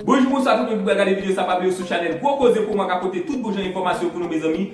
Bonjou bonswa tout moun ki pral gade video sa pa bliye sou chanel gwo koze pou mwen ka pote tout bon jan enfòmasyon pou nou mezanmi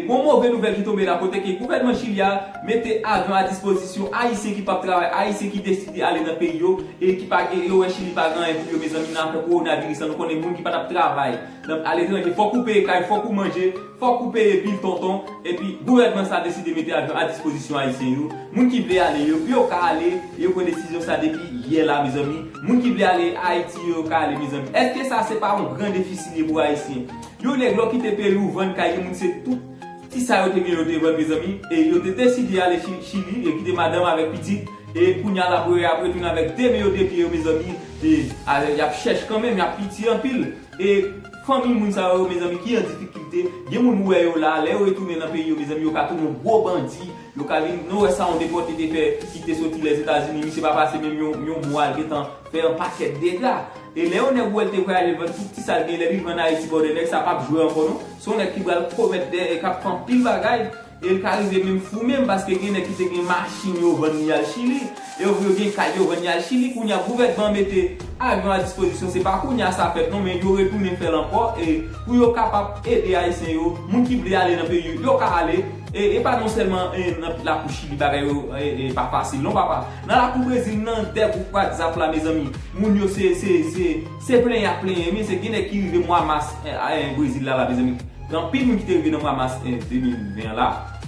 gon move nouvèl ki tonbe la kote ke gouvènman chili a mete avyon a dispozisyon ayisyen ki pap travay ayisyen ki deside ale nan peyi yo e ki pa yo wè chili pa gen anyen pou yo mezanmi nan afè kowona viris la nou konnen moun ki patap travay Nan aletranje fòk ou peye kay, fòk ou manje, fòk ou peye bil tonton, epi gouvènman sa deside mete avyon a dispozisyon ayisyen yo, moun ki vle ale yo pou yo ka ale, yo pran desizyon sa depi yè la mezanmi, moun ki vle ale ayiti yo yo ka ale mezanmi, èske sa se pa yon gran defisi li ye pou ayisyen? Yon nèg lè w kite peyi w vann kay yon moun se tout ti sa yo te gen yo te vann mezanmi, e yo te deside ale chili, yo kite madanm avèk pitit, e kounya la pou yo yap retounen avèk 2 men yo 2 pye yo mezanmi, e yap chèch kanmenm, yap piti anpil. E fanmi moun sa yo mezanmi ki an difikilte, gen moun ou wè yo la, lè yo retounen nan peyi yo mezanmi yo ka tounen yon gwo bandi, yo ka vin, nou wè sa yon depòte te fè ki te soti Lèzetazini, misye pa pase menm yon yon mwa l gentan fè yon pakèt dega. E lè yon nèg ou wè l te vle ale vann tout ti sa l genyen, lè li rive ann Ayiti ba w de nèg sa pap jwe ankò non, se yon nèg ki pral komèt dè e k ap fè anpil bagay. E l ka rive menm fou menm paske gen nèg ki te gen machin yo vann yal chili, e yo vle gen kay yo vann yal chili kounya gouvènman an mete avyon a dispozisyon se pa kounya sa fèt non men yo retounen fè l ankò e pou yo kapab ede ayisyen yo moun ki vle ale nan peyi yo yo ka ale e e pa non sèlman e nan lakou chili bagay yo e pa fasil non papa nan lakou brezil nan dè gwoup whatsapp la mezanmi moun yo se se se se plenyen ak plenyen men se gen nèg ki rive mwa mas a e brezil la la mezanmi. Gen anpil moun ki te rive nan mwa mas 2020 an la,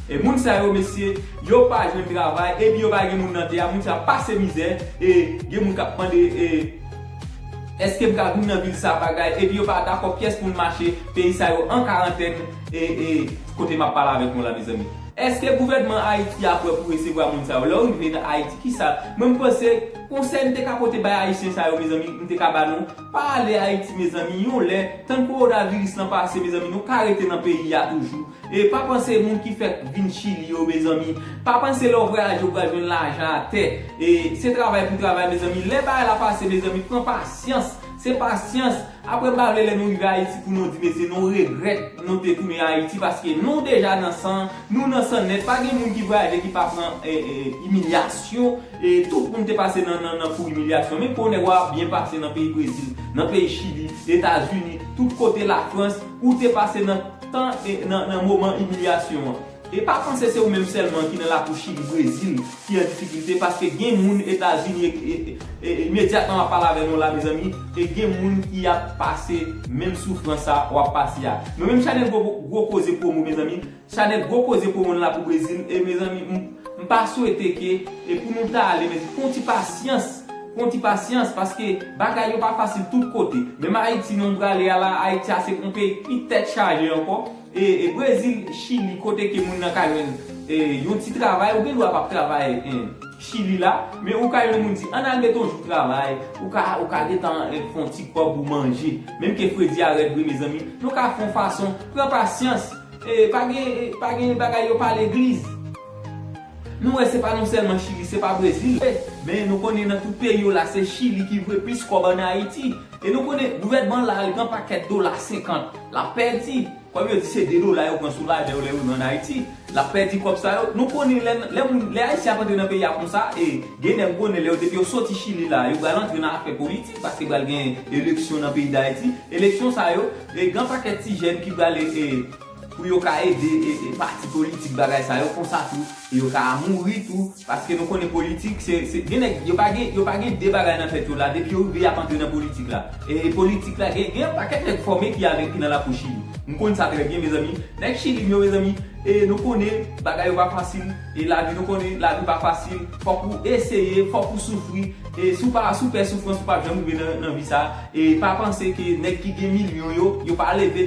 e moun sa yo mesye, yo pa jwenn travay, epi yo pa gen moun nan tè a, moun sa yo pase mizè, e gen moun kap mande e eske m ka vin nan vil sa bagay, epi yo pa dakò pyès moun mache, peyi sa yo an karantèn, e e kote map pale avèk nou la mezanmi. Eske gouvènman Ayiti a prè pou resevwa moun sa yo? Lè ou rive nan Ayiti kisa, mwen m panse konsèy m te ka pote bay ayisyen sa yo mezanmi, m te ka ba nou, Pa ale ayiti mezanmi yon lè tann korona viris lan pase mezanmi nou ka rete nan peyi a toujou e pa panse moun ki fèk vin chili yo mezanmi pa panse lè w vwayaje w pral jwenn lajan atè e se travay pou travay mezanmi lè bagay la pase mezanmi pran pasyans se pasyans aprè m pa vle lè nou rive ayiti pou nou di mesye nou regrèt nou te tounen ayiti paske nou deja nan san nou nan san nèt pa gen moun ki vwayaje ki pa pran imilyasyon E tout moun te pase nan nan nan kou imilyasyon. Men kou nèg wa ap byen pase nan peyi Brezil, nan peyi Chili, Etazini, tout kote Lafrans, ou te pase nan tan e nan nan moman imilyasyon an. E pa panse se ou menm sèlman ki nan lakou Chili, Brezil ki an difikilte paske gen moun Etazini e e e imedyatman map pale avè nou la mezanmi e gen moun ki ap pase menm soufrans sa wap pase a. Mwen menm Chanel Gwo Gwo Koze Promo mezanmi, Chanel gwo koze pou moun la pou brezil e mezanmi m pa swete ke e pou nou ta ale men fon ti pasyans fon ti pasyans paske bagay yo pa fasil tout kote menm ayiti non prale a la ayiti a se yon peyi ki pi tèt chaje ankò e brezil chili kote ke moun nan ka jwenn e yon ti travay ou gen dwa pap travay e chili la men ou ka jwenn moun di an al mete yon jou travay ou ka ou ka gentan fon ti kòb ou manje menm ke fredi a rèd vre mezanmi nou ka fon fason pran pasyans Pa gen pa gen bagay yo pa legliz. Nou wè se pa nou sèlman chili se pa brezil vre men nou konnen nan tout peyi yo la se chili ki voye plis kòb an ayiti e nou konnen gouvènman la al gen pakèt dola 50 lap pèdi kòm yo di se 2 dola yo pran sou lajan yo lè yo rive an ayiti lap pèdi kòb sa yo nou konnen lè lè moun lè ayisyen ap antre nan peyi a konsa e gen nèg m konnen lè yo depi yo soti chili la yo pral antre nan afè politik paske pral gen eleksyon nan peyi dayiti eleksyon sa yo E gan pakèt ti jèn ki pral e pou yo ka ede e pati politik bagay sa yo konsa tou e yo ka mouri tou paske nou konnen politik se se gen nèg yo pa gen yo pa gen de bagay nan tèt yo la depi yo rive yap antre nan politik la e politik la gen gen yon pakèt nèg fòme ki avèk ki nan lakou chili nou konn sa trè byen mezanmi nèg chili m yo mezanmi e nou konnen bagay yo pa fasil e lavi nou konnen lavi pa fasil fòk ou eseye fòk ou soufri e si w pa si w pè soufrans ou pap janm rive nan nan vi sa. E pa panse ke nèg ki gen milyon yo, yo pa leve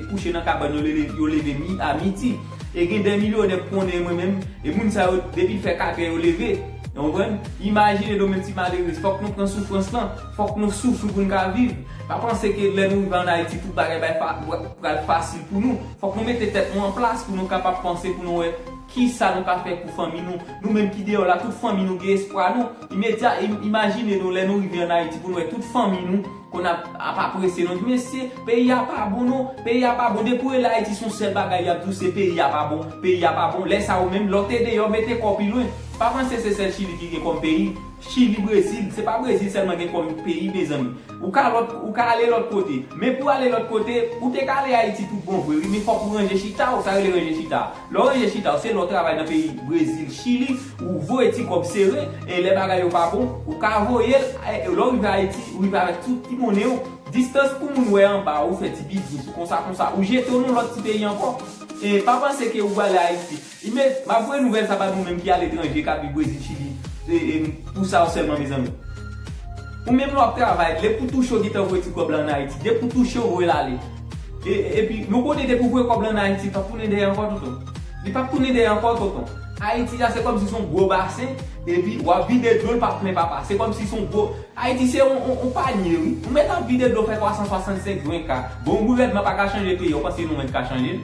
kouche nan kabann yo yo leve mi a midi. E gen de milyonè m konnen mwen menm, e moun sa yo depi l fè 4 è yo leve. Ou konprann? Imajine nou menm ti malerez, fòk nou pran soufrans lan, fòk nou soufri pou n ka viv. Pa panse ke lè nou rive an Ayiti tout bagay bay pral fasil pou nou. Fòk nou mete tèt nou an plas pou nou kapab panse pou nou wè kisa nou ka fè pou fanmi nou. Nou menm ki deyò la tout fanmi nou gen espwa nou. Imedya, Imajine nou lè nou rive an Ayiti pou nou wè tout fanmi nou konn ap ap apresye nou, di mesye peyi a pa bon non, peyi a pa bon, depi ou rele Ayiti se yon sèl bagay y ap di w se peyi a pa bon, peyi a pa bon, lè sa ou menm lè w te deyò mete kò w pi lwen. Pa panse se sèl Chili ki gen kòm peyi, Chili, Brezil, se pa Brezil sèlman gen kòm peyi mezanmi. Ou ka lòt, ou ka ale lòt kote, men pou w ale lòt kote, ou te ka ale Ayiti tout bon vre wi, men fòk ou ranje chita w, sa yo rele ranje chita a, lè w ranje chita w se lè w travay nan peyi Brezil, Chili, Ou voye ti kòb sere e lè bagay yo pa bon ou ka voye l e lè w rive Ayiti ou rive avèk tout ti monnen w distans pou moun wè anba ou fè ti biznis konsa konsa ou jete w nan lòt ti peyi ankò e pa panse ke ou prale Ayiti imed m ap voye nouvèl sa ba nou menm ki aletranje k ap viv Brezil Chili e pou sa yo sèlman mezanmi ou menm lè w ap travay depi w touche w gentan voye ti kòb la an Ayiti depi w touche w voye l ale e epi nou konnen depi w voye kòb la an Ayiti l p ap tounen dèyè ankò tonton li p ap tounen dèyè ankò tonton. Ayiti sa se kòmsi son gwo basen epi wap vide dlo l pap plen papa se kòmsi son gwo ayiti se yon panye wi ou mèt ap vide dlo fè 365 gren ka bon wi rèdman paka chanje peyi a ou panse nou menm ka chanje l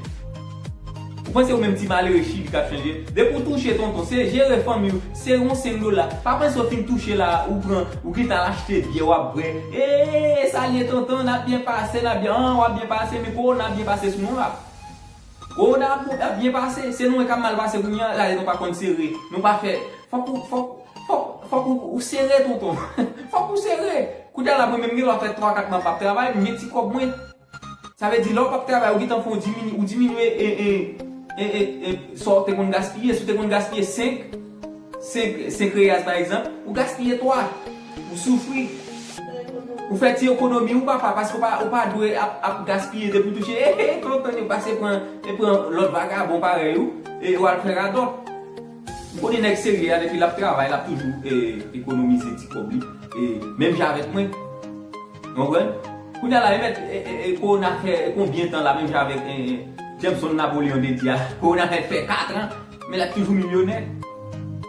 ou panse ou menm ti malere chili kap chanje l depi ou touche tonton se jere fanmi w se yon 5 dola pa panse ou fin touche la ou pran ou gentan al achte byè wap bwè eeee salye tonton nap byen pase nap byen an wap byen pase men kowona ap byen pase sou nou la. Gwo dam ou tap byen pase se nou menm kap mal pase kounye an lale nou pa konn sere nou pa fè fòk ou fòk fòk fòk ou sere tonton fòk ou sere kounye la mwen menm gen lè wap fè 3 4 mwa pap travay m gen ti kòb mwen sa vle di lè ou pap travay ou gentan fè yon diminye ou diminye sa ou te konn gaspiye si ou te konn gaspiye 5 5 senk reyaz pa egzanp, ou gaspiye 3, ou soufri. Ou fè ti ekonomi ou papa paske ou pa dwe ap gaspiye depi ou touche ehe tonton yo pase pran e pran lòt vagabon parèy ou e ou al fè radòt. M konnen nèg serye a depi lap travay lap toujou ekonomize ti kòb li e menm jan avèk mwen. Ou konprann? Kounya la e mèt e kowona fè konbyen tan la menm jan avèk Jameson Napoleon te di a kowona mèt fè 4 an Men lap toujou milyonè.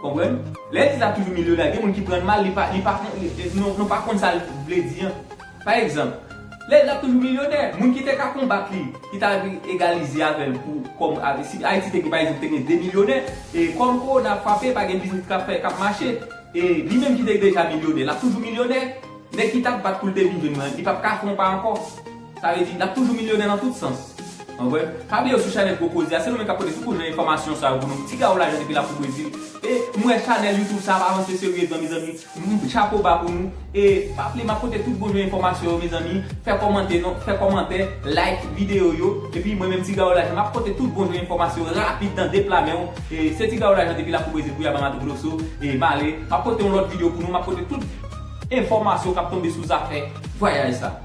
Konprann? Lè di lap toujou milyonè a gen moun ki prann mal li pa li pa konn nou pa konn sal vle di an. Pa egzanp, lè di lap toujou milyonè, moun ki te ka konbat li, ki ta egalize avèl pou kòm avè si Ayiti te gen pa egzanp te gen 2 milyonè e kòm kowona ap frape pa gen biznis kap fè kap mache e li menm ki te deja milyonè lap toujou milyonè. Nèg ki tap bat poul te vin jwenn li an li pap ka konba ankò. Sa vle di, n ap toujou milyonè nan tout sans. An vre? Pa bliye yo sou chanèl Gwo Koze a, se nou menm k ap pote soukou jan enfòmasyon sa yo pou nou. Tiga ou lajan depi la pou Brezil. E, m wè chanèl Youtube sa ap avanse seryezman mezanmi. M, chapo ba pou nou. E, pa bliye m ap pote tout bon jan enfòmasyon yo mezanmi. Fè kòmante non, fè kòmantè, like videyo yo. Epi mwen menm Tiga ou lajan m ap pote tout bon jan enfòmasyon yo rapid nan de pla men w. E, se Tiga ou lajan depi la pou Brezil pou Yaba Mato Grosso. E, m ale. M ap pote yon lòt videyo pou nou, m ap pote tout enfòmasyon k ap tonbe sou zafè vwayaj sa.